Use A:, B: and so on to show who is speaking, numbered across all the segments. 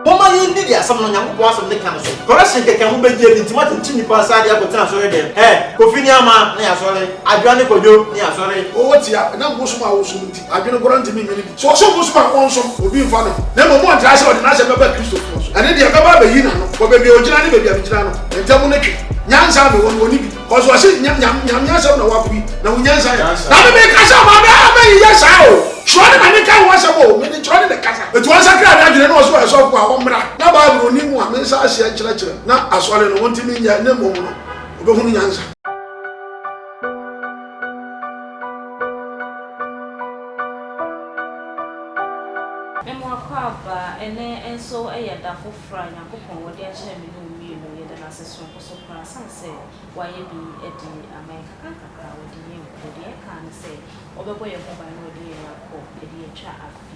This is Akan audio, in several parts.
A: Momma yɛnni deɛ asɛm no Onyankopɔn asɛm no ka no so. Correction kɛkɛ a mobɛgyeɛ no nti moatenkye nnipa saa de akɔtena asɔre dɛm. Ɛ! Kofi ne Ama ne asɔre, Adwoa ne Kwadwo ne asɔre. Ɔwɔ ti a, ɛnam
B: bosom a ɔsom nti, adwene koraa ntumi nnye no di. Sɛ ɔsom bosom a, ɔnsom, obi mfa ne ho. Na mmom ɔntra ase a ɔde n'asɛm bɛba Kristofo so. Ɛno deɛ, ɛbɛba abɛyi n'ano wɔ baabi a ɔgyina ne baabi a megyina no ntam no twe. Nyansa a mewɔ no, ɔnni bi. Kɔsɔ ɔsi nyam nyam nyam asɛm na wapo yi na wonya nsa yɛ. Na mi mi kasa ɔmo abɛ abɛ yi yɛ saa o. Twerɛ ne na mi ka ho asɛm o. Mi de twerɛ ne na kasa. Etu wɔn nsa kra mi adwene na ɔsi ɔyɛ sɔfo a wɔn mra na Bible oni mu a mi nsa aseɛ nkyerɛkyerɛ na asɔre no wɔn ti mi nyɛ ne mmom no ɔbɛ hunu nyansa. Mmoakwaaba, ɛnnɛ nso ɛyɛ da foforɔ a Nyankopɔn ɔde akyerɛ me ne wo
C: mmienu. Yɛda no ase so. So korasan sɛ wayɛ bi de ama yɛn nkakrankakra a ɔde yɛn kɔ, deɛ ɛkaa no sɛ ɔbɛbɔ yɛn ho ban na ɔde yɛn akɔ de atwa afe.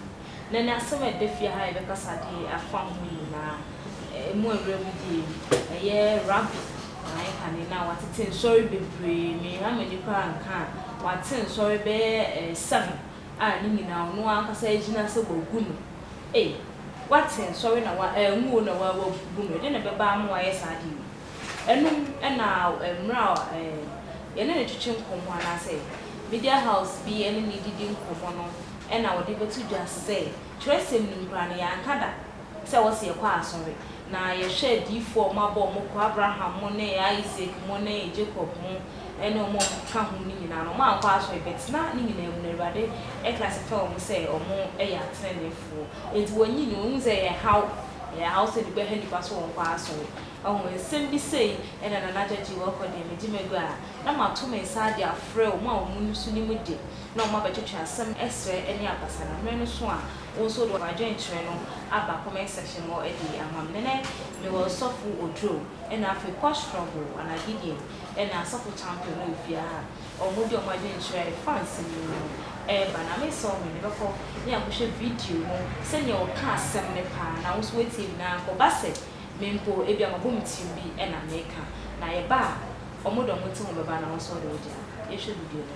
C: Na ɛnɛ asɛm a ɛda fie ha a yɛbɛkasa de afa ho nyinaa, ɛmu awura mu deɛ yi, ɛyɛ Rabbi na ayɛ kane no a watete nsɔre bebree, menha m'ani koraa nka a, wate nsɔre bɛyɛ seven. a ne nyinaa ɔno ankasa agyina sɛ wagu no ei wate nsɔre na wa angu o na wa wagu no ɛdeɛ na ɛbɛba ama wayɛ saa adeɛ wei ɛno ɛna mmerɛ a ɛɛ yɛne no twetwe nkɔmmɔ anaa sɛ media house bi ɛne no didi nkɔmmɔ no ɛna ɔde bɛto dwa sɛ twerɛsɛm no mu koraa no yɛanka da Sɛ wɔ se yɛkɔ asɔre na yɛhwɛ adiyifoɔ a wɔabɔ wɔn kɔ, Abraham mo ne Isaac mo ne Jacob mo ne wɔn a wɔkeka ho no nyinaa no, wɔankɔ asɔre but na ne nyinaa mu no Awurade kra se ka wɔn ho sɛ wɔn yɛ ateneneefoɔ. Enti wɔnyi no, wɔhu sɛ ɛyɛ haw, ɛyɛ haw sɛ bi bɛha nnipa so wɔnkɔ asɔre. Wahu? Nsem bi sei na Nana Gyagye wɔkɔ deɛ megye magu a, na mato me nsa de afrɛ wɔn a wɔn nniso nim de, na wɔn abɛtwetwe asem srɛ ne abasa na mmerɛ no so a, Wo nso de w'adwenkyerɛ no aba comment section hɔ de ama me. Nnɛ mewɔ Ɔsɔfo Oduro ɛna afei Kɔ Struggle anaa Gideon ɛna Asɔfo Champion no ofie ha a wɔn de wɔn adwenkyerɛ a ɛfa nsɛm yi ho no ɛreba. Na me nsa wɔ me no bɛkɔ ne akɔhwɛ video no sɛdeɛ ɔka asɛm no paa na wo nso woatie bi na anka ɔba sɛ me mpo ebia mabɔ me tirim bi ɛna meka na yɛba a wɔn de wɔn ti ho bɛba na wo nso wɔde wo de aba. Yɛnhwɛ video no.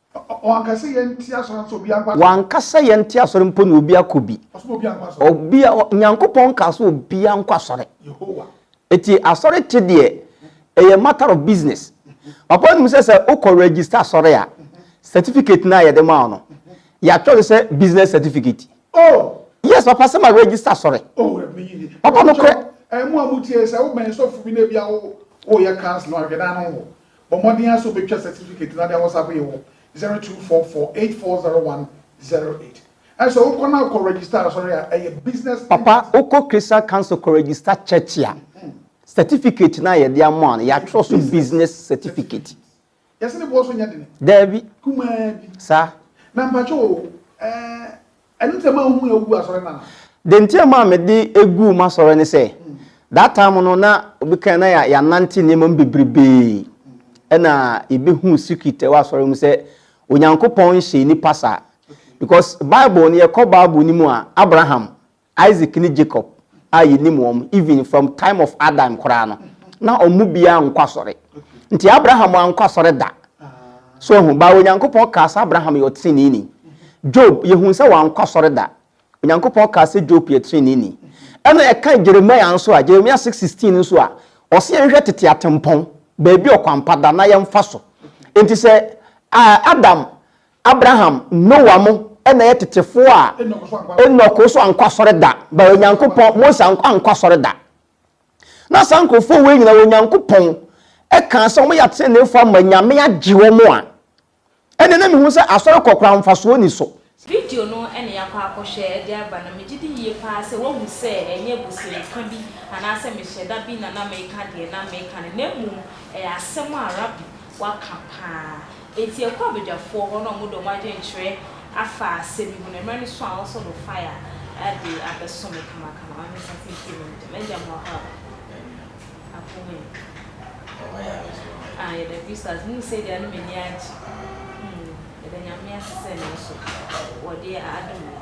D: Wanka sɛ
B: yɛnte asɔre nso obi ankɔ asɔre. Wanka sɛ yɛnte asɔre
D: mpo na obi akɔ bi. Ɔsoma obi ankɔ asɔre. Obi a Nyankopɔn kaa sɛ obi ankɔ asɔre. Yehowa.
B: Eti asɔre
D: te deɛ ɛyɛ matter of business. Papa wonim sɛ sɛ wokɔ register asɔre a certificate no a yɛde ma wo no yɛatwerɛ sɛ business certificate. Oh. Yes papa sɛ ma register asɔre. Oh ɛmi yi ni. Papa nokorɛ. Ɛmu a mo tie sɛ
B: wo bɛn sɔfo bi na ebi a wo wo yɛ council ahwɛ dan no ho Bɔ mmɔden ara sɛ wobɛtwa sɛtifikɛti no na wode awɔ sa bere wɔ 0244840108. Ɛne sɛ wokɔ na kɔ regista asɔre a ɛyɛ Business Empire. Papa, wokɔ
D: Christian Council kɔ regista church a, sɛtifikɛti no a yɛde ama wo no, yɛatwerɛ so Business Certificate. Yɛse ne boɔ
B: so nyɛ dene. Daabi. Kumaa
D: bi.
B: Saa. Na
D: mpakyɛ o,
B: ɛɛ, Ɛno nti na manhu yɛ wogu asɔre no
D: ana? Deɛ nti a maa mede guu m'asɔre ne sɛ, that time no na obi kan na yɛanante nneɛma mu bebrebee, ɛna yɛbɛhuu secret a ɛwɔ asɔre mu sɛ Onyankopɔn nhyɛ nnipa saa. Because Bible no, yɛkɔ Bible no mu a, Abraham, Isaac ne Jacob, a yɛnim wɔn even from time of Adam koraa no na wɔn mu biara nkɔ asɔre nti Abraham ankɔ asɔre da so ahu baa Onyankopɔn kaa sɛ Abraham yɛ ɔteneneeni Job yɛhu sɛ wankɔ asɔre da Onyankopɔn kaa sɛ Job yɛ teneneeni ɛna ɛka Jeremiah nso a Jeremiah 6:16 nso a ɔsɛ yɛn hwɛ tete atempɔn baabi ɔkwampa da na yɛmfa so nti sɛ Adam Abraham, Noah mo na ɛyɛ tetefoɔ a Enoch nso ankɔ asɔre da, but Onyankopɔn, Moses ankɔ ankɔ asɔre da. Na saa nkurɔfoɔ wei nyinaa Onyankopɔn ɛkaa sɛ wɔn yɛ ateneneefoɔ ama Nyame agye wɔn a, ɛnneɛ na mehu sɛ asɔre kɔ koraa mfasoɔ nni so. Video no na
C: yɛakɔ akɔhwɛ de aba no, megye di yie paa sɛ woahu sɛ ɛnyɛ abusuanika bi anaasɛ mehyɛda bi na na mereka deɛ na mereka no, na mmom ɛyɛ asɛm a Rabbi waka paa. Enti yɛkɔ abadwafoɔ hɔ na wɔde wɔn adwenkyerɛ afa asɛm yi ho na mmerɛ no so a wɔsɔ no fire de abɛso me kamakama ɔne nsa tintim me ntam. Agya mo ɔha o. Amen. Ako ho ɛ. Ɔha yɛ ade so ɔha yɛ. Ah yɛda Kristo ase. Mo sei deɛ ano m'ani agye. Yɛda Nyame ase sɛ nanso wɔde adom yɛn.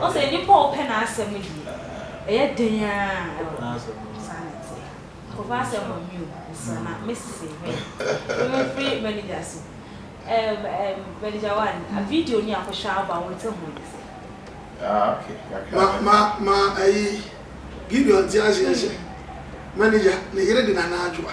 C: Ɔsɛ nnipa a wɔpɛ n'asɛm deɛ, ɛyɛ den ara wɔ hɔ. Saa na ɛteɛ. Nkɔfa asɛm wɔ me o, mesesa na mesese hwɛ. Wo mefiri manager so. Ɛɛm ɛɛm manager one, video ni a kɔhwɛ a woba wo nte ho nsɛ. Ah ok kakra
E: Ma bɛka. ma ma
B: ɛyi Gideon nte aseɛ sɛ manager ne yere de Nana Adwoa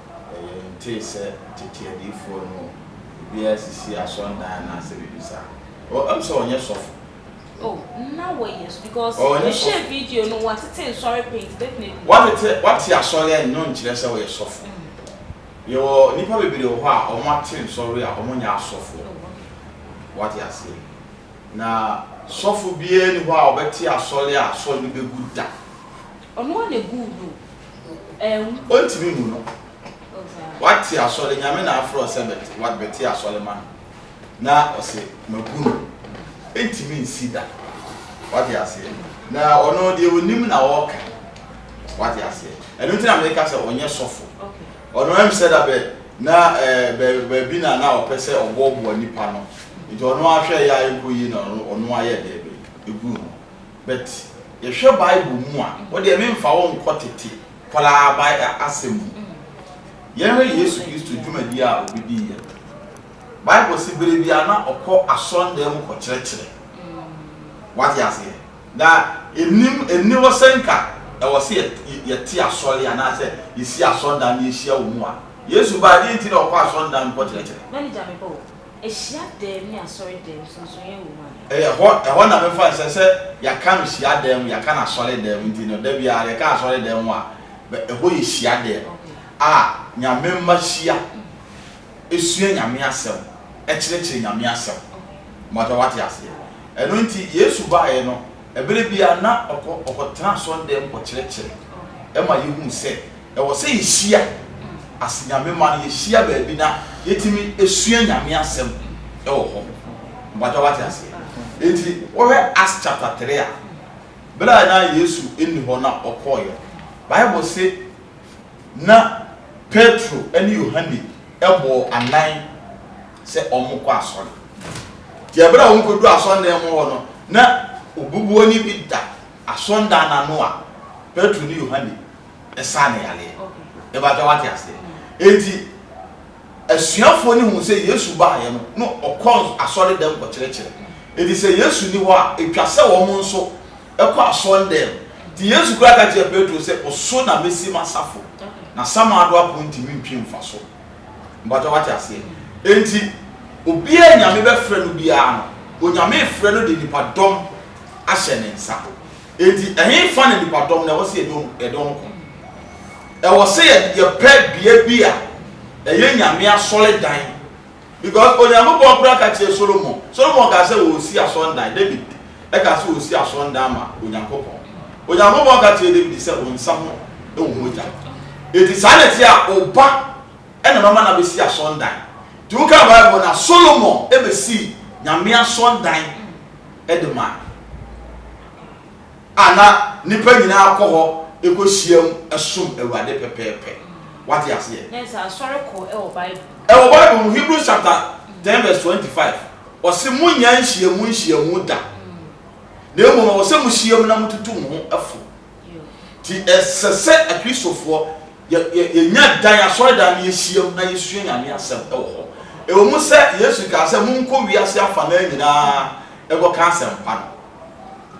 E: Na yɛntee sɛ tete adiyifoɔ no mu biara sisii asɔredan anaasɛ biribi saa. Ɔ, ɛm sɛ ɔnyɛ sɔfo. Oh, na wɔyɛ sɔ, because Ɔnyɛ mehwɛɛ sɔfo. video
C: no, wɔatete nsɔre pii nti definitely. Wɔatete, wɔate
E: asɔre a ɛno nkyerɛ sɛ ɔyɛ sɔfo. Mm. Yɛwɔ nnipa bebree wɔ hɔ a wɔate nsɔre a wɔnyɛ asɔfoɔ. Oh, okay. Wate aseɛ? Na sɔfo biara nni hɔ a ɔbɛte asɔre a asɔre no bɛgu da. Ɔno ara na
C: guu no o, ɛɛm. Ontimi mmu no.
E: Wate asɔre, Nyame na afrɛ wo sɛ bɛte asɔre ma no, na ɔse magu no, ɛntimi nsi da. Wate aseɛ? Na ɔno deɛ ɔnim na ɔɔka. Wate aseɛ? Ɛno nti na meeka sɛ ɔnyɛ sɔfo. Ɔno ɛm
C: sɛ da bɛ
E: na ɛɛ baabi na na ɔpɛ sɛ ɔboɔboa nipa no, nti ɔno ara hwɛɛ yɛ a ɛnkɔ yie na ɔno ara yɛɛ dɛɛ bɛ guu no. But yɛhwɛ bible mu a wo deɛ me nfa wo nkɔ tete koraa bible asɛm mu. Yɛnhwɛ Yesu Kristo dwumadie a ɔbɛdiiɛ no. Bible se berɛ biara na ɔkɔ asɔndan mu kɔkyerɛkyerɛ. Wate aseɛ? Na ɛnim ɛnni hɔ sɛ nka ɛwɔ sɛ yɛte asɔre anaa sɛ yɛsi asɔndan na yɛhyia wɔ mu a. Yesu baa deɛ nti na ɔkɔ asɔndan mu kɔkyerɛkyerɛ?
C: Hyiadan ne asɔredan mu sonsonoyɛ wɔ mu anaa? Ɛyɛ hɔ, ɛhɔ na
E: mefa no sɛ, sɛ yɛaka no hyiadan mu, yɛaka no asɔredan mu, nti no da biara yɛka asɔredan mu a, bɛ, ɛhɔ yɛ hyiadan a Nyame mma hyia, sua Nyame asɛm, kyerɛkyerɛ Nyame asɛm. Mɔta, wate aseɛ? Ɛno nti Yesu baeɛ no, Bere bi ara, na ɔkɔ ɔkɔtena asɔrdan mu kɔkyerɛkyerɛ. Ɛma yehu sɛ ɛwɔ sɛ yehyia ase Nyame mma no, yehyia baabi na yetumi sua Nyame Asɛm wɔ hɔ. Mpakyɛw wate aseɛ? Enti wohwɛ Acts chapter three a, bere a na Yesu nni hɔ na ɔkɔeɛ no, Bible se na Petro ne Yohane bɔɔ anan. sɛ wɔnkɔ asɔre. Enti bere a wokodu asɔredan mu hɔ no, na obubuani bi da asɔredan no ano a Petro ne Yohane saa no yareɛ. Mepakyɛ wate aseɛ? Enti asuafoɔ no huu sɛ Yesu baeɛ no, na ɔkɔ asɔredan kɔkyerɛkyerɛ. Enti sɛ Yesu nni hɔ a, ɛtwa sɛ wɔn nso kɔ asɔredan mu. Enti Yesu koraa ka kyerɛɛ Petro sɛ, Wo so na mɛsi m'asafo, na samando apon ntumi ntwe mfa so. Mpakyɛw wate aseɛ? Enti obiara Nyame bɛfrɛ no biara no, Onyame frɛ no de nipadɔm ahyɛ ne nsa. Enti ɛhefa na nipadɔm no ɛwɔ sɛ yɛde wɔn ko? Ɛwɔ sɛ yɛpɛ bea bi a ɛyɛ Nyame asɔredan. Because Onyankopɔn koraa ka kyerɛɛ Solomon, Solomon kaa sɛ ɔresi asɔrdan, David kaa sɛ ɔresi asɔrdan ama Onyankopɔn. Onyankopɔn ka kyerɛɛ David sɛ ɔnsa ho wɔ mogya. Enti saa na ɛteɛ a, wo ba na mɛma no abɛsi asɔrdan. Nti wokan Bible no a, Solomon bɛsii Nyame asɔrdan de mae. a na nnipa nyinaa kɔ hɔ kɔhyiam som Awurade pɛpɛɛpɛ. Woate aseɛ? Na ɛsɛ asɔre kɔ
C: wɔ Bible mu. Ɛwɔ Bible
E: mu, Hebrews chapter ten verse twenty five, ɔse monnya nhyiamu nhyiamu da, na mmom ɛwɔ sɛ mohyiam na motutu mo ho fo. Nti ɛsɛ sɛ Akristofoɔ yɛ, yɛ, yɛnya dan, asɔredan no yɛhyiam na yɛsua Nyame asɛm wɔ hɔ. Ɛwɔ mu sɛ Yesu kaa sɛ monkɔ wiase afanaa nyinaa nkɔka asɛmpa no.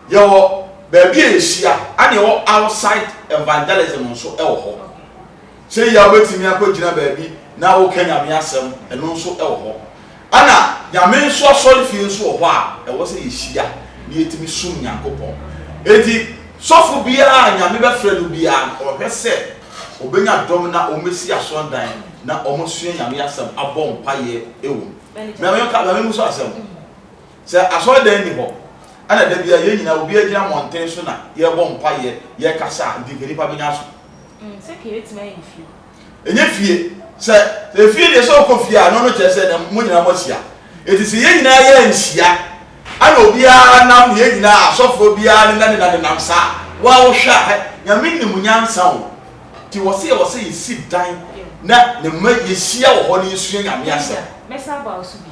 E: Yɛwɔ baabi a yɛhyia ɛna ɛwɔ outside evangelism nso ɛwɔ hɔ. Sɛ yia wobɛtumi akɔ gyina baabi na wo ka nyame asɛm ɛno nso ɛwɔ hɔ. Ɛna nyame nso asɔre fie nso wɔ hɔ a ɛwɔ sɛ yɛhyia na yɛtumi som Nyankopɔn. Enti sɔfo biara a nyame bɛfrɛ no biara no ɔhwɛ sɛ ɔbɛnya dɔm na wɔn bɛsi asɔndan na wɔn asua nyame asɛm abɔ mpaeɛ ɛwɔ mu. Mame nka mame mu so asɛm. Sɛ asɔredan nni hɔ na da biara yɛn nyinaa obiara gyina mmɔnten so na yɛrebɔ mpaeɛ, yɛrekasa a, mfimfini pa bɛnya so. Mm, sɛ kei
C: bɛtumi ayɛ ne fie.
E: Ɛnyɛ fie. Sɛ efie deɛ, sɛ wokɔ fie a, ɛno no kyerɛ sɛ na mo nyinaa moahyia. Enti sɛ yɛn nyinaa yɛanhyia na obiara nam, yɛn nyinaa, asɔfoɔ biara nenanena nenam saa a, wo ara wohwɛ a, hɛ, Nyame nim nyansa o. Nti wɔ se yɛwɔ sɛ yɛsi dan na ne mma yɛhyia wɔ hɔ na yɛsua Nyame asɛm. Mɛsa aba wo so bi.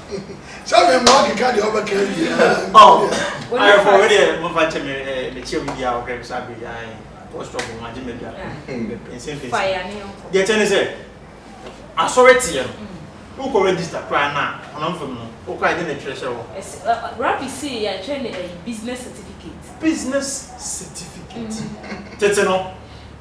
A: sɛ
B: me mmoa keka deɛ ɔbɛka awie
A: ayɛfo me deɛ mofa kyɛ me eh, mekyia mu biaa ɔhwɛ me sɛ abere ae postɔp ho agye me bia mepɛnsɛmpɛnsi
C: deɛ kyɛ ne sɛ
A: asɔre teɛ no wokɔ register koraa na honam fam no wokɔ agye ne twerɛ hyɛ hɔ rabi se yɛatwerɛ ne ayi
C: business certificate business certificate tete no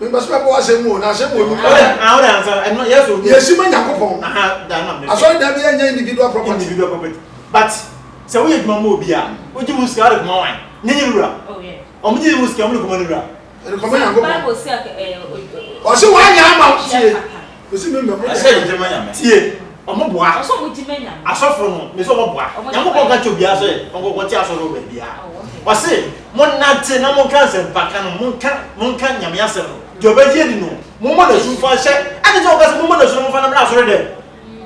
A: Mepɛ sɛ mɛbɔ
B: asɛm mu o, na asɛm wɔ mu.
A: Yɛsuma Nyankopɔn. Asɔredan bi ɛnyɛ individual
B: property. Individual property. But
A: sɛ woyɛ adwuma mu obi a, wogye mu sika wode kɔma wan? Ne ne wura. Wɔn gye
C: mu sika wɔn de kɔma
A: ne wura. Ɛde kɔma Nyankopɔn.
C: Ɔse
B: wanyɛ ama wo. Na sɛ yɛgye ma Nyame.
E: Tie, ɔmo boa.
A: Ɔsɛ ɔmo gye ma Nyame.
C: Asɔfo no, me se ɔmo
A: boa. Nyankopɔn ka kyerɛ obiara sɛ ɔnkɔkɔ te asɔre wɔ baabiara. Ɔse, monnante na monka asɛmpa ka no, monka, monka Nyame asɛm no. Deɛ ɔbɛgye adi no, mommɔ n'asu mfa nhyɛ. Adɛn nti na wɔka sɛ mommɔ n'asu na momfa no mmra asɔre dɛm?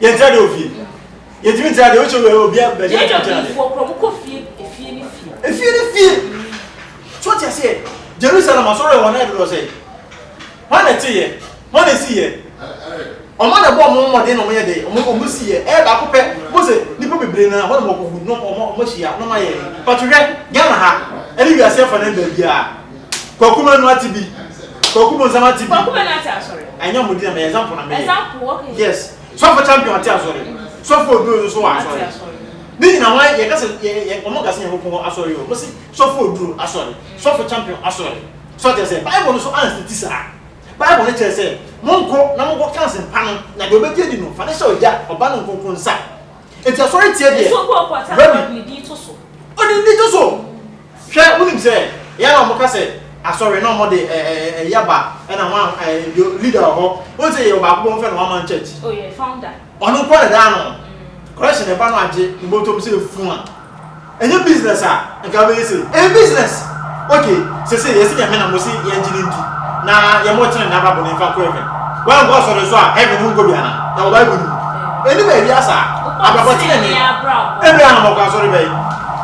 A: Yɛn tra de ofie. Yɛn tumi tra de o sɛ obi a baabi a tra tra de. Yɛn Lewifo kura mo
C: kɔ fie efie ne fie. Efie ne
A: fie. So ɔte aseɛ Jerusalem asɔre yɛ wɔn ayɛ dodoɔ sɛ. Wɔn na ɛte yɛ. Wɔn na esi yɛ. Wɔn na ɛbɔ wɔn mmɔden na wɔn yɛ de wɔn wɔn si yɛ. Ɛyɛ baako pɛ. Mo sɛ nipa bebree na wɔn na wɔn kɔ gu na wɔn wɔn ahyia na wɔn ayɛ. But hwɛ Ghana ha ɛne wiase afa na baabi a Kwaku manu ati bi. Kwaku bonsam ati bi. Kwaku manu ati asɔre.
C: Ɛnyɛ ɔmo di na mɛ ɛzampo
A: na mɛ yɛ. Ɛzampo okay. Yes.
C: Sɔfo champion
A: ati asɔre. Sɔfo oduro nso so wɔ asɔre. Ne nyina wɔn yɛ kasa yɛ yɛ ɔmo kasa yɛn kɔn asɔre o. Mosi sɔfo oduro asɔre. Sɔfo champion asɔre. Sɔ kyerɛ sɛ bible no so ansi ti saa. Bible no kyerɛ sɛ mo nko na mo kɔ kansi mpa no na deɛ ɔbɛgye di no fa ne hyɛ ɔgya ɔba no nkonko nsa. Eti asɔre tiɛ deɛ. Ɛsɛ obi ɔkɔ ɔtɛ asɔre de ne din
C: to so. Ɔde ne din to so.
A: Hwɛ, wonim sɛ yɛ na wɔka sɛ asɔre na wɔde ɛɛ yaba ɛna wɔn a ɛɛ deɛ leader wɔ hɔ wonim sɛ yɛwɔ baako bɔ wɔn fɛ no one man church
C: oh yɛ founder ɔno nko na daa no
A: correction ɛba no agye ne bɔtɔm sɛ fun a ɛnyɛ business a nka bɛyɛ sɛ ɛyɛ business ok sɛ sɛ yɛsi nyame na mo si yɛn gye ne ndi na yɛ mo tene na babu ne nfa kɔ heaven wɔn nkɔ asɔre nso a heaven ho nkɔ bi ana ɛwɔ bible no mu ɛni baabi asa abrabɔ tene ne ɛbɛn na mo kɔ asɔre bɛyɛ.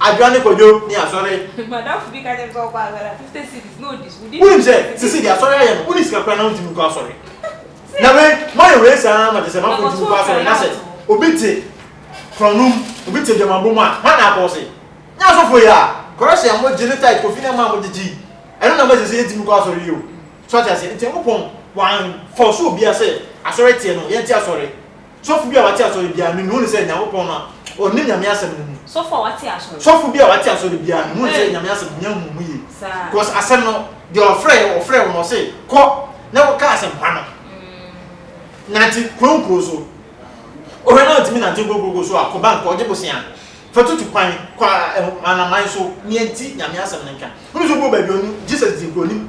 A: Adwoa ne Kwadwo ne asɔre. Madamfo bi ka kyerɛ me
C: sɛ ɔkɔ asɔre a, fifty cedis na odi so. Wonim sɛ seesei deɛ
A: asɔre ayɛ no, wonni sika koraa na wontumi nkɔ asɔre. Na wei, moayɛ wei saa ara ma kyerɛ sɛ moankɔ ntumi nkɔ asɔre. Na sɛ obi te korɔno mu, obi te adwamammɔ mu a, hwan na akɔ ɔse? Nyɛ asɔfoɔ yi a kɔrɛhye a mogye ne tithe kɔ fi na ɛma a mogyegye yi, ɛno na ama seesei yɛntumi nkɔ asɔre yi o. So ate aseɛ? Enti Nyankopɔn wamfɔɔse obiara sɛ asɔre teɛ no, yɛnte asɔre. Sɔfo bi a wate asɔre biara nim no, wonim sɛ Nyankopɔn no a ɔnim Nyame asɛm no mu. Sɔfo a wate
C: asɔre. Sɔfo bi a wate asɔre
A: biara nim no, wonim sɛ Nyame asɛm no hia nhumu yie. Because asɛm no, deɛ ɔfrɛɛ yɛ, ɔfrɛɛ wo na ɔse kɔ na kɔka asɛmpa no. Nante kuro nkuro so. Wohwɛ na wontumi nante nkuro nkuro so a, kɔ bank kɔgye bosea. Fa tutu kwan, kɔ amanaman so, nea nti Nyame asɛm no nka. Wonim sɛ wobɛwɔ baabi a ɔnim, Jesus din koraa ɔnim.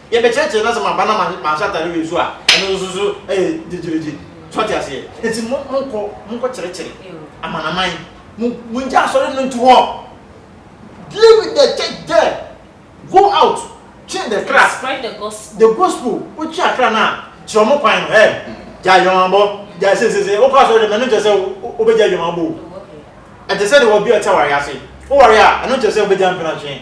A: Yɛbɛkyerɛkyerɛ na sɛ maba na manhyɛ atare wei nso a, ɛno nso so yɛ gyegyeregye. So ate aseɛ? Enti mo, monkɔ, monkɔkyerɛkyerɛ amanaman. Mo, mongya asɔre no nto hɔ. Deal with the church there. Go out, twe the kra. Spread the
C: gospel. The gospel. Wotwe
A: akra no a, kyerɛ wɔn kwan no. Hey, gyae adwamammɔ, gyae seiseiseisei. Wokɔ asɔre dɛm a, ɛno nkyerɛ sɛ wobɛgyae adwamammɔ o. Ɛte sɛ deɛ obi a ɔte awareɛ ase. Woware a, ɛno nkyerɛ sɛ wobɛgyae mpenatwe.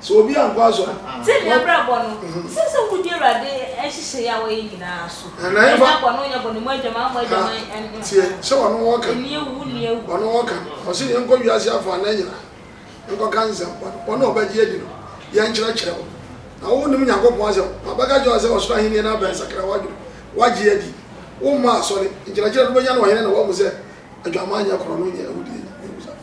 B: Sɛ obi ankɔ asɔre a, ɔn. Sɛnea abrabɔ no,
C: ɛsɛ sɛ mudi Awurade nhyehyɛe a wayɛ nyinaa so. Ɛn, na ɛmfa. Ɛnyɛ bɔ no, nyɛ bɔ no, mmɔ adwaman, mmɔ Ka, adwaman, ɛn, ɛn,
B: tie, ɛn. sɛ ɔno wɔka. Ɛnni awu, wonni
C: awu. Ɔno wɔka.
B: Ɔse yɛnkɔ wiase afanan nyina, nkɔka nsɛmpa no. Wɔn a wɔbɛgye adi no, yɛnkyerɛkyerɛ wɔn. Na wo wonim Nyankopɔn asɛm, na ɔbɛka akyerɛ wo sɛ ɔsoro ahennie no abɛn, sakra w'adwene, woagye adi. Wo mma asɔre, nkyerɛkyerɛ no bɛnya no ɔhene na woahu sɛ adwammaa nyɛ korɔno, nyɛ awudie, nyɛ awusade.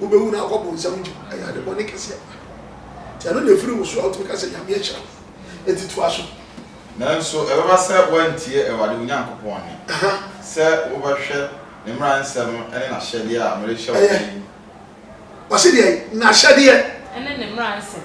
B: Wobɛwu na akɔ bonsam nkyɛn. Ɛyɛ ade bɔne kɛseɛ paa. Nti ɛno na ɛfiri wo so a wotumi ka sɛ Nyame ahyira wo. Enti toa so. Nanso
E: ɛbɛba sɛ woantie Awurade wo Nyankopɔn nne, sɛ wobɛhwɛ ne mmara nsɛm ne n'ahyɛdeɛ a merehyɛ wo nnɛ yi. Ɔse
B: deɛn? N'ahyɛdeɛ. Ne ne mmara
C: nsɛm.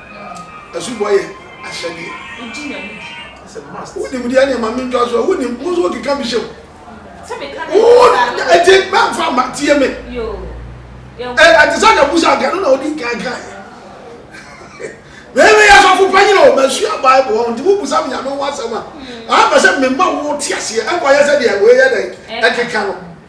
B: Asubɔ yɛ ahyɛdeɛ. Wogye nya no di.
C: It's a must.
A: Wonim deɛ ɛne ma mentwa
B: so a wonim wo nso wokeka bi hyɛ mu. Sɛ meka
C: na ɛyɛ
B: saa no. Wo ɛti mɛmfa mma tie me.
C: Yoo.
B: Ɛte sɛ na busa anka no na odi nkan kan yɛ. Mɛmɛ yɛ sɔfo panyin o masua Bible wɔn nti wobusa me nyame ho asɛm a. Aha pɛ sɛ mema wo te aseɛ ɛnkɔ yɛ sɛ deɛ wei yɛ dɛ ɛkeka no.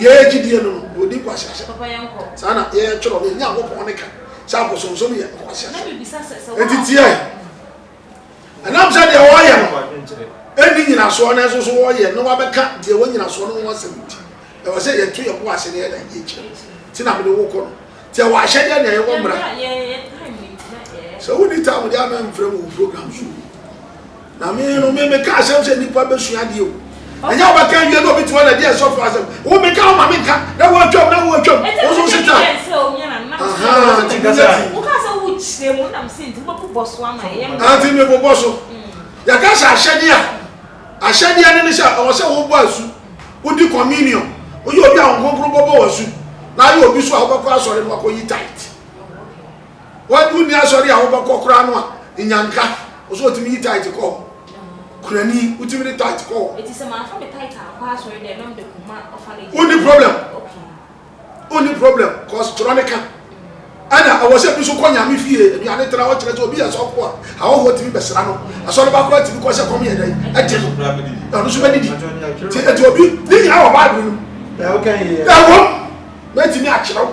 B: yɛyɛ gyidie no no ɔdi nkwaseahyɛ saa na
C: yɛyɛ twerɛ no
B: yɛnya nkɔpɔn ne ka sɛ abosonsom yɛ nkwaseahyɛ ɛnti
C: tiɛ
B: ɛnam sɛ deɛ wɔyɛ no ɛnni nyinasoɔ no nso so wɔyɛ na wabɛka deɛ wɔ nyinasoɔ no ho asɛm nti ɛwɔ sɛ yɛto yɛ bo ase na yɛda yɛ kyerɛ nti na mede wo kɔ no tiɛ wɔ ahyɛdeɛ deɛ yɛwɔ mmara sɛ wonni tam deɛ ama mfrɛ mu wo program so Na me no, me meka asɛm sɛ nnipa bɛsua adeɛ o. Ɛnyɛ wobɛka awie na obi tuma na di asɔfo asɛm. Wo meka wo ma menka na woatwam na woatwam. Wo so se ta. Ahaa ti bi yɛ ti.
C: Woka sɛ wokyerɛ mu na me se nti wobɛbobɔ so
B: ama ɛyɛ mmerɛ. Ante me bobɔ so. Yɛka sɛ ahyɛdeɛ a, ahyɛdeɛ no ne sɛ ɛwɔ sɛ wobɔ asu, wodi communion, woyɛ obi a Honhom Kronkron bɔbɔ wo asu na ayɛ obi so a wobɛkɔ asɔre no wakɔyi tithe. W'agu nni asɔre a wobɛkɔ koraa no a, nya nka. Wo so otumi yi tithe kɔ hɔ. Kurani, wotumi de tithe kɔ hɔ. Eti sɛ manfa me tithe
C: ankɔ asɔre dɛ na mede kɔma orphanage. Wonni problem.
B: Wonni problem cause twerɛ no ka. Ɛna ɛwɔ sɛ bi so kɔ Nyame fie aduane tra hɔ kyerɛ sɛ obi yɛ sɔfo a ahɔhoɔ tumi bɛsra no. Asɔre ba koraa tumi kɔ sɛ kɔm yɛ dɛn? Ɛde no. Na ɔno so bɛdidi. Nti eti obi ne nyinaa wɔ Bible no mu. Ɛwom mɛtumi akyerɛ wo.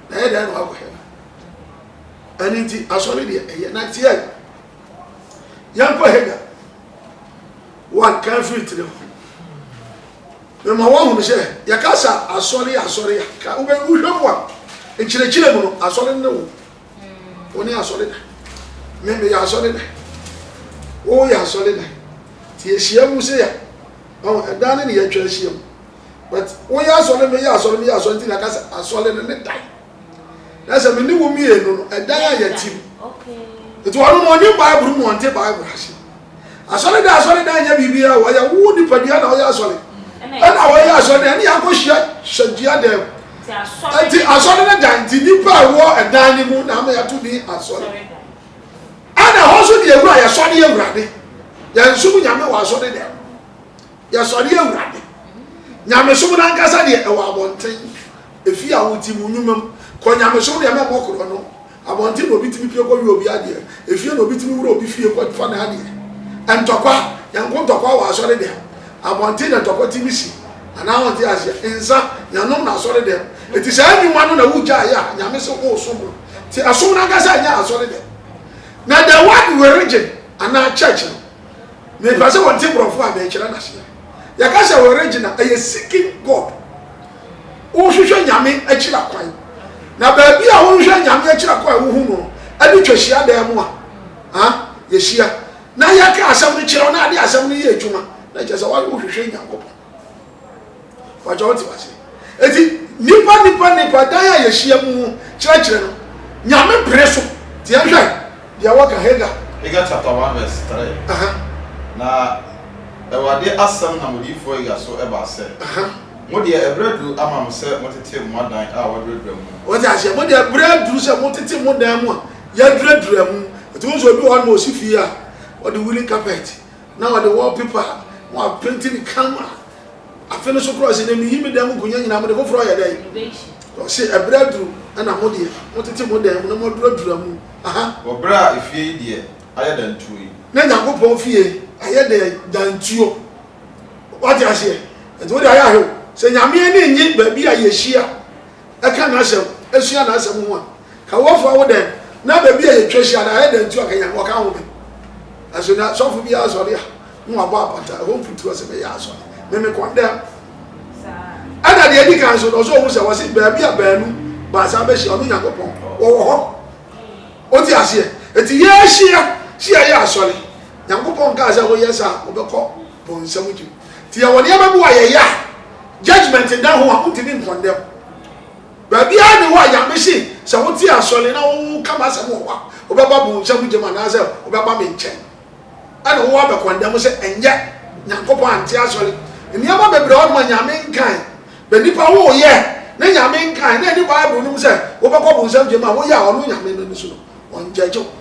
B: na ɛyɛ dɛn na wakɔ hɛma? Ɛno nti, asɔre deɛ ɛyɛ na tie yi. Yɛnkɔ Hagar one kan firi tiri ho. Mema wɔahunu sɛ yɛka sa asɔre asɔre a ka wobɛ wohwɛ mu a nkyerɛkyerɛ mu no asɔre ne wo. Wo ne asɔre na. Me meyɛ asɔre na. Wo yɛ asɔre na. Ti yɛhyia mu se a ɛdan ne ne yɛtwa ahyia mu. but woyɛ asɔre meyɛ asɔre meyɛ asɔre nti na ɛka sɛ asɔre no ne dan na sɛ me ne wo mmienu no ɛdan a yɛte mu nti wɔn no ɔnye bible mu ɔnte bible ase asɔre dan asɔre dan nyɛ biribi a wɔyɛ wo nipadua na ɔyɛ asɔre ɛna wɔyɛ asɔre dan ɛne yɛakɔhyia hyɛdua dɛm nti asɔre no dan nti nipa a ɛwɔ ɛdan no mu na ama yɛato din asɔre ɛna ɛhɔ nso deɛ awura yɛsɔre awurade yɛnsom nyame wɔ asɔre dɛm Yɛsɔre Awurade. Nyamesom no ankasa deɛ ɛwɔ abɔnten, ɛfie a wote mu, nnwuma mu. Kɔ nyamesom deɛ na ɛmmɔ korɔ no, abɔnten na obi tumi pue kɔ yɛ obi adeɛ, ɛfie na obi tumi wura obi fie kɔ fa n'adeɛ. Ntɔkwa, yɛnko ntɔkwa wɔ asɔre dɛm, abɔnten na ntɔkwa tumi si, anaa wonte aseɛ? Nsa, yɛnnom no asɔre dɛm. Ɛti saa nnwuma no na wogyaa yɛ a Nyame se woresom no. Nti ɛsom no ankasa nyɛ asɔre dɛm. Na the word religion anaa church no. Mepɛ sɛ wɔte borɔfo a merekyerɛ no ase a yɛka sɛ original, ɛyɛ seeking God. Wohwehwɛ Nyame akyira kwan. Na baabi a wohwehwɛ Nyame akyira kwan a wohu no no, ɛne twa hyiadan mu a a yɛhyia na yɛka asɛm no kyerɛ wo na ade asɛm no yɛ adwuma na kyerɛ sɛ wohwehwɛ Nyankopɔn. Wɔatwa wɔn te wase. Eti nipa nipa nipa dan a yɛhyia mu ho kyerɛkyerɛ no, Nyame pere so. Ti yɛnhwɛ deɛ wɔka Hagar. Hagar chapter one
E: verse three. Uh -huh. Na Awurade asɛm nam odiyifoɔ Hagar so baa sɛ. Uh -huh. Mo deɛ ɛberɛ aduru ama mo sɛ motete mo adan a wɔaduradura mu. Wɔte aseɛ? Mo deɛ ɛberɛ
B: aduru sɛ motete mo dan mu a yɛaduradura mu. Ɛtumi nso obi wɔ hɔ na ɔsi fie a ɔde woolen carpet. na wɔde wall paper a wɔapenti no kama. Afe no so koraa ɔse, na miyi me dan mu nkonwa nyinaa, mode foforɔ yɛ dɛn? Na ɔse, ɛberɛ aduru na mo deɛ motete mo dan mu na moaduradura mu. Aha. Wɔ berɛ a
E: efie yi deɛ ayɛ dantuo yi. Na Nyankopɔn fie
B: ayɛ dɛn? Dantuo. Wate aseɛ? Nti wode ayɛ ahwɛ o, sɛ Nyame ani nnye baabi a yɛhyia Ɛka n'asɛm, ɛsua n'asɛm ho a, ka wɔfoa wo dɛn? Na baabi a yɛtwa hyia no, ayɛ dɛn nti ɔka Nyame, ɔka home? Nanso na sɔfo biara asɔre a, na wabɔ apata, ɛhɔ mfuturo sɛ mɛyɛ asɔre, me me kɔn dɛm. Ɛna deɛ ɛdi kan nso, na ɔsɛ ɔhu sɛ wɔse baabi a baanu, baasa bɛhyia, ɔno Nyankopɔn, ɔwɔ hɔ. Wote aseɛ? Enti yɛhyia, sɛ yɛyɛ asɔre, Nyankopɔn kaa sɛ woyɛ saa a, wobɛkɔ bonsam gyem. Nti yɛwɔ nneɛma bi wɔ a yɛyɛ a judgement nna ho a wontumi nkɔndɛm. Baabiara ne hɔ a Nyame se sɛ wote asɔre na woka m'asɛm wɔ hɔ a wobɛba bonsam gyam anaasɛ wobɛba me nkyɛn ɛna wo abɛkɔndɛm sɛ ɛnyɛ Nyankopɔn ante asɔre. Nneɛma bebree wɔ hɔ nom a Nyame nkae. Bɛ nnipa woyɛ ne Nyame nkae na ɛne Bible nom sɛ wobɛkɔ bonsam gyam a woyɛ a ɔno Nyame no ani so no. ɔngyɛgye wo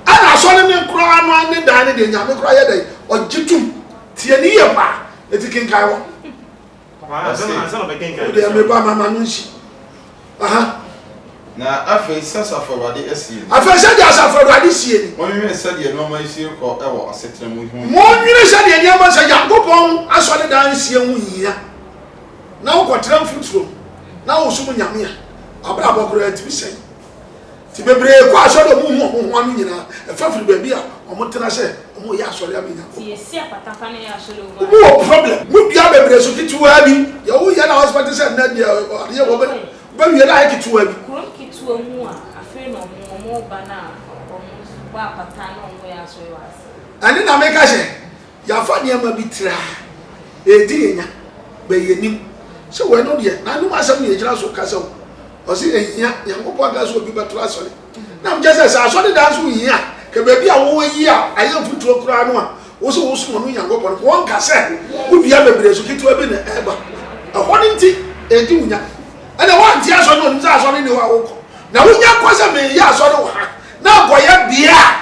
B: ɛna asɔre ne koraa no ara ne dan no deɛ nyame koraa yɛ dɛn ɔgye tom tie ne yie paa ɛti kenkan hɔ
A: wodeɛ meba mama no nsi
B: aha na
E: afei sɛ asafo awurade asie ni afei sɛ deɛ asafo
B: awurade sie ni monnwene sɛdeɛ nneɛma
E: yi sie kɔ wɔ asetena mu ho monnwene sɛdeɛ
B: nneɛma sɛ nyankopɔn asɔre dan sie ho hia na wokɔtra mfuturo mu na wosom Nyame a, w'abrabɔ koraa tumi sɛe. Nti bebree kɔ asɔre a wɔhu wɔn ho ano nyinaa, ɛfa firi baabi a wɔtena sɛ wɔreyɛ asɔre ama Nyankopɔn.
C: Wɔn wɔ problem. Modua
B: bebree so ketewaa bi, deɛ woyɛ na wɔsɛ te sɛ nnɛ deɛ adeɛ wɔbɛwie no ayɛ ketewaa bi. Kurom ketewaa mu a afei na wɔn wɔn ba no a wɔn bɔ apata na wɔyɛ asɔre
C: wɔ ase. Ɛno na meka
B: sɛ Yɛafa nneɛma bi traa edi yɛnya bɛ yɛnim sɛ wɔ ɛno deɛ n'anom asɛm na yɛgyina so kasa o ɔse ɛhia Nyankopɔn aka sɛ obi bɛtoro asɔre nam kyɛ sɛ sɛ asɔre dan nso hia kɛ baabi a wo yi a ayɛ mfuturo koraa no a wo se wo som ɔno Nyankopɔn no wɔ nka sɛ wo dua bebree so ketewa bi na ɛba ɛhɔ no nti edi wo nya ɛna wo ante asɔre na onim sɛ asɔre ne hɔ a wo kɔ na wo nya kɔ sɛ me yɛ asɔre wɔ ha na ankɔ yɛ bea a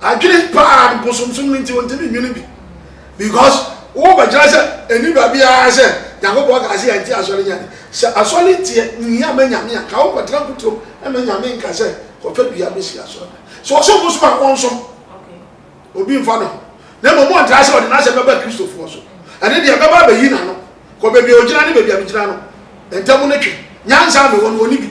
B: Adwene paa no bosomsom no nti ontumi nnwene bi because wo bɛkyerɛ sɛ ɛni baabi ara sɛ Nyankopɔn kaa sɛ yɛnte asɔre nya de. Sɛ asɔre nteɛ nhia ma Nyame a ka wo kɔtena mpoturom ɛma Nyame nka sɛ kɔfa dua bɛsi asɔre no. Sɛ ɔsom bosom a ɔnsom
C: obi mfa ne ho
B: na mmom ɔntra sɛ ɔde n'asɛm bɛba Kristofoɔ so ɛne deɛ ɛbɛba abɛyi n'ano kɔ baabi a ɔgyina ne baabi a megyina no ntam no twe. Nyansa a mewɔ no ɔni bi.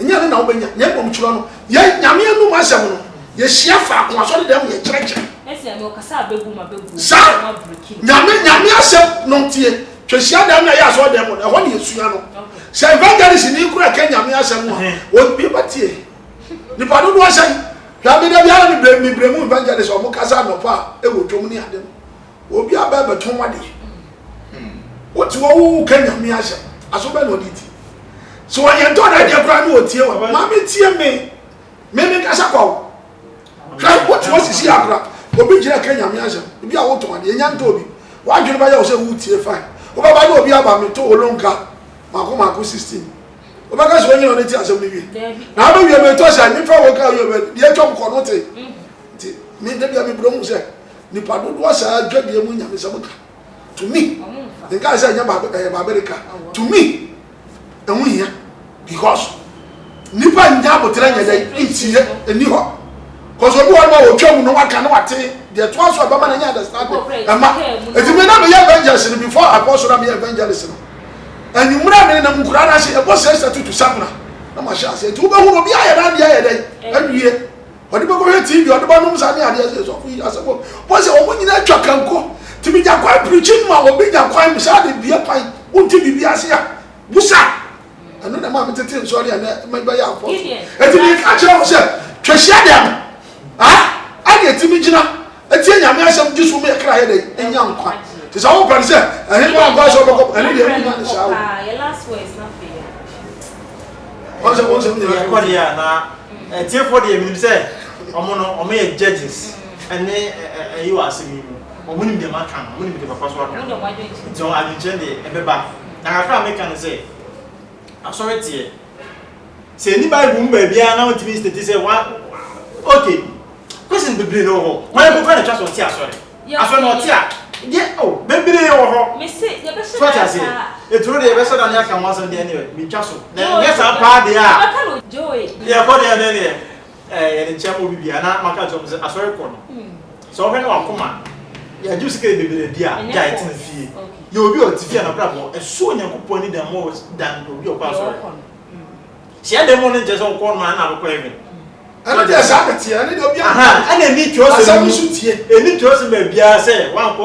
B: Ɛnyɛ
C: ɛno na wobɛnya,
B: na mmom twerɛ no. Yɛn, Nyame anom asɛm no, yɛhyia faako asɔredan mu yɛkyerɛkyerɛ. Ɛsɛ nea ɔkasa a
C: bɛbom a bɛbom Saa! na wɔabreki
B: no. Nyame, Nyame asɛm no ntie. Twɛ hyiadan no a ɛyɛ asɔredan mu no, ɛhɔ na yɛsua no. Okay. Sɛ evangelistni koraa reka Nyame asɛm no a, obi bɛtie. Nnipa dodoɔ sɛn? Hwɛ, me da biara me brɛ, me brɛ mu evangelist a wɔkasa anɔpa a ɛwɔ dwom ne ade no. Obi aba ɛbɛtɔn wade. Wote hɔ wo ka nyame asɛm. Aso bɛ na ɔde ti. Sɛ ɔyɛ ntɔ na ɛdeɛ koraa na ɔtie wa. Maame tie me. Me me kasa kwa wo. Hwɛ wote hɔ sisi akora. Obi gyina ka nyame asɛm. Ebi a wotɔn adeɛ. Nya ntɔ obi. W'adwene bɛyɛ wo sɛ wotie fine. Wobɛba na obi aba meto wo lonka mako mako 16. Wobɛka sɛ ɔnyina ɔne te asɛm no wie. Na abɛ wie metɔ sɛ mefa wo ka wie bɛ deɛ atwam kɔ no te. Nti me da bia me brɛ mu sɛ Nnipa dodoɔ saa dwadie mu nyamesɛm ka tumi nkae sɛ ɛnyɛ babere ka tumi ɛho hia because nnipa nnya aboterɛ nyɛ dɛ ntie ɛni hɔ because obi hɔ no ma wɔtwa mu no waka na wate deɛ toa so ɛbɛma no nyɛ understanding ɛma ɛti me na meyɛ evangelist no before akɔ so na meyɛ evangelist no anwummerɛ me nenam nkura no ase ɛbɔ sɛ sɛ tutu sapena na mahyɛ ase ɛti wobɛhu no obi ayɛ no adeɛ ayɛ dɛ awie Ɔde bɛ kɔhwɛ TV, ɔde bɛ nom sa ne adeɛ sɛ sɔfo yi asɛm bɔ sɛ wɔn nyinaa twa kanko. Ti mi gyakwai preaching ma obi gyakwai mi saa de bie kwan wonte biribi ase a busa. Ɛno na ɛma me tete nsɔre a na me bɛyɛ afɔ so. Ɛti mi ka kyerɛ wo sɛ twa hyia deɛ no. Ah, ɛna ɛti mi gyina. Etie Nyame asɛm gye som yɛ kra yɛ dɛn enya nkwa te sɛ wopɛ no sɛ ɛhe kɔ ankɔ sɛ wobɛkɔ ɛne deɛ wonya ne saa wo
C: wɔn sɛ wɔn
A: sɛ wonya yɛ kɔ deɛ na ɛtiefo deɛ menim sɛ ɔmo no ɔmo yɛ judges ɛne ɛyi wɔ asɛm yi mu ɔmo nim deɛ maka no ɔmo nim deɛ papa so aka nti ɔmo adwenkyerɛ deɛ ɛbɛba na kakra a meka no sɛ asɔre teɛ Sɛ ɛnni Bible mu baabiara na wontumi nstate sɛ wa ok Christians bebree na wɔ hɔ hwan mpo kora na ɛtwa sɛ ɔte asɔre asɔre na ɔte a deɛ o oh, bebree wɔ hɔ so ɔte
C: aseɛ ɛturo
A: deɛ yɛbɛsɛ da ne aka ho asɛm deɛ ne metwa so na ɛnyɛ saa paa deɛ a
C: yɛkɔ deɛ ne deɛ
A: Ɛɛ yɛde nkyɛn mu bi bia na maka akyerɛ ɔmo sɛ asɔre kɔ no sɛ ɔhwɛ na wakoma no yɛagye wo sika yɛ bebree di a gyae tena fie yɛ obi a ɔte fie a n'abrabɔ ɛso Onyankopɔn ani dan more than obi a ɔkɔ asɔre hyɛ dan mu no nkyɛ sɛ ɔkɔ no ma na abɛkɔ heaven ɛno deɛ saa
B: na teɛ ɛne deɛ obi a ɛna ɛni
A: twerɛ sɛ ɛni
B: twerɛ sɛ baabiara
A: sɛ wankɔ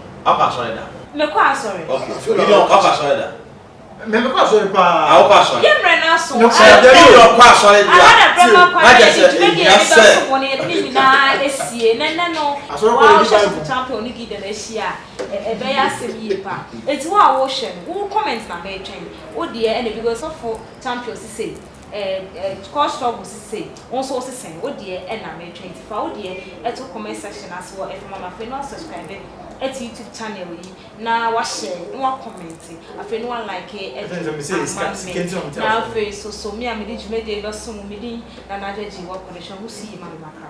E: Ɔkɔ asɔre da. Mekɔ asɔre.
C: Okay. Gideon, ɔkɔ
E: asɔre da. Me mekɔ asɔre
A: paa. Ah, ɔkɔ asɔre. Yɛ mmerɛ no
E: aso.
C: Sɛ ɛdɛ bi yɛ ɔkɔ
E: asɔre da. Ara na brɛ ma kwan na
C: yɛde dwumadie a yɛde
E: bɛsom wɔ no
C: yɛde ne nyinaa asie. Na ɛnɛ no, waa wohwɛ so kuta mpɛ ɔne Gideon ahyia a, ɛbɛyɛ asɛm yie paa. Enti wo a wohwɛ no, wo comment na meretwɛn. Wo deɛ ɛne bi, sɔfo Tampio se sei. Kɔ struggle sesei wo nso wo se sɛn wo deɛ ɛna metwɛn nti fa wo deɛ to comment section ase wɔ ɛfam ana afei na wa subscribe to YouTube channel yi na wa share na wa comment afei na wa like ɛde ama me na afei nso so me a mede dwumadie yi bɛsom wo me din Nana Adwo Agyei Wɔ Kɔdɔ Hyɛ Ho So Yie Ma Me Makra.